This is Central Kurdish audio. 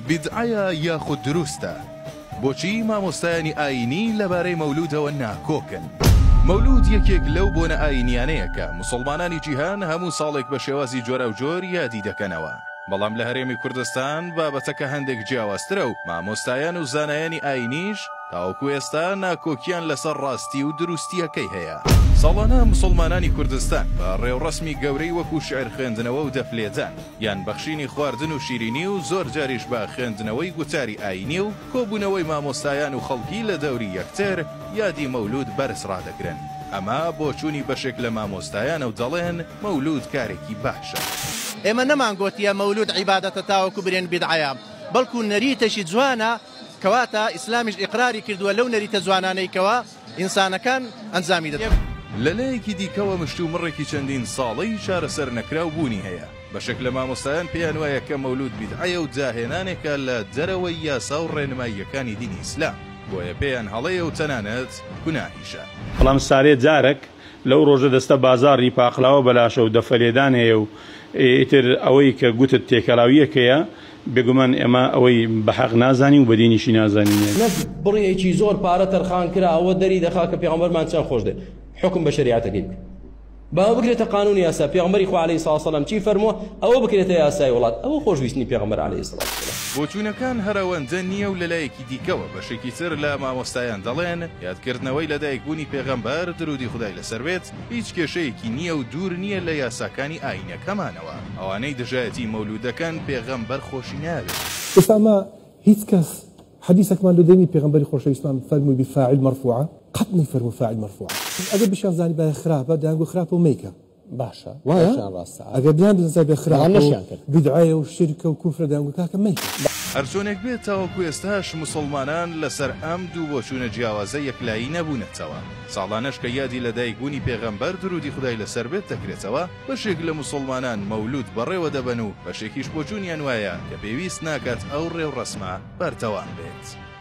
بیدعەیە یاخود دروستە؟ بۆچی مامۆستایانی ئایینی لەبارەی مەولوودەوە ناکۆکن؟ مەولوود یەکێک لەو بۆنە ئایینیانەیە کە موسڵمانانی جیهان هەموو ساڵێک بە شێوازی جۆراوجۆر یادی دەکەنەوە، بەڵام لە هەرێمی کوردستان بابەتەکە هەندێک جیاوازترە و مامۆستایان و زانایانی ئایینیش تاوەکو ئێستا ناکۆکییان لەسەر ڕاستی و دروستییەکەی هەیە. ساڵانە موسڵمانانی کوردستان بە ڕێوڕەسمی گەورەی وەکو شیعر خوێندنەوە و دەف لێدان، یان بەخشینی خواردن و شیرینی و زۆر جاریش بە خوێندنەوەی گوتاری ئایینی و کۆبوونەوەی مامۆستایان و خەڵکی لە دەوری یەکتر یادی مەولوود بەرز ڕادەگرن. ئەمە بۆچوونی بەشێک لە مامۆستایانە و دەڵێن مەولوود کارێکی باشە. ئێمە نەمانگۆتییە مەولوود عیبادەتە تاوەکو برێن بیدعەیە، بەڵکو نەریتێکی جوانە کەواتە ئیسلامیش ئیقراری کردووە لەو نەریتە جوانانەی کەوا ئینسانەکان ئەنجامی دەدەن. لە لایەکی دیکەوە مشتومڕێکی چەندین ساڵەی چارەسەر نەکراو بوونی هەیە، بەشێک لە مامۆستایان پێیان وایە کە مەولود بیدعەیە و داهێنانێکە لە دەرەوەی یاسا و ڕێنماییەکانی دینی ئیسلام، بۆیە پێیان هەڵەیە و تەنانەت گوناهیشە. بەڵام سارێ جارەک لەو ڕۆژە دەستە بازا ری پاقلاوە بەلاشە و دەفە لێدان هەیە و ئیتر ئەوەی کە گوتت تێکەلاوییەکەیە بێگومان ئێمە ئەوەی بە حەق نازانین و بە دینیشی نازانینێ. نەک بڕێکی زۆر پارە تەرخان کرا ئەوە دەری دەخا کە پێغەمبەرمان چەند خۆش دەێ حوکم بە شەریعەتەکەی بکە با ئەوە بکرێتە قانون یاسا پێغەمبەری خوا عەلەیهی سڵاو سەلام چی فەرمووە ئەوە بکرێتە یاسای وڵات ئەوە خۆشویستنی پێغەمبەر عەلەیهی سڵاو سەلام. بۆچوونەکان هەر ئەوەندە نییە و لە لایەکی دیکەوە بەشێکی تر لە مامۆستایان دەڵێن یادکردنەوەی لەدایکبوونی پێغەمبەر، درودی خودای لەسەر بێت، هیچ کێشەیەکی نییە و دوور نییە لە یاساکانی ئایینەکەمانەوە، ئەوانەی دژایەتی مەولود دەکەن پێغەمبەر خۆشی ناوێت. ئێستا ئەمە هیچ کەس حەدیسەکمان لۆ دێنی پێغەمبەری خۆشەویستمان فەرمووی بی فاعل مرفوعە قەت نەیفەرموو فاعل مرفوعە ئەگەر بشیان زانیبایە خراپە دەیانگوت خراپە و مەیکە، باشە وایە یان ڕاستە ئەگەر بیان بزانسای بێ خراپ بەڵام نەشیان کرد. بدعەیە و شیرکە و کوفرە دەیانگوت کاکە مەیکە هەرچۆنێک بێت تاوەکو ئێستاش موسڵمانان لەسەر ئەم دوو بۆچوونە جیاوازە یەکلایی نەبوونەتەوە. ساڵانەش کە یادی لەدایکبوونی پێغەمبەر درودی خودای لەسەر بێت دەکرێتەوە، بەشێک لە موسڵمانان مەولود بەڕێوە دەبەن و بەشێکیش بۆچوونیان وایە کە پێویست ناکات ئەو ڕێوڕەسمە بەردەوام بێت.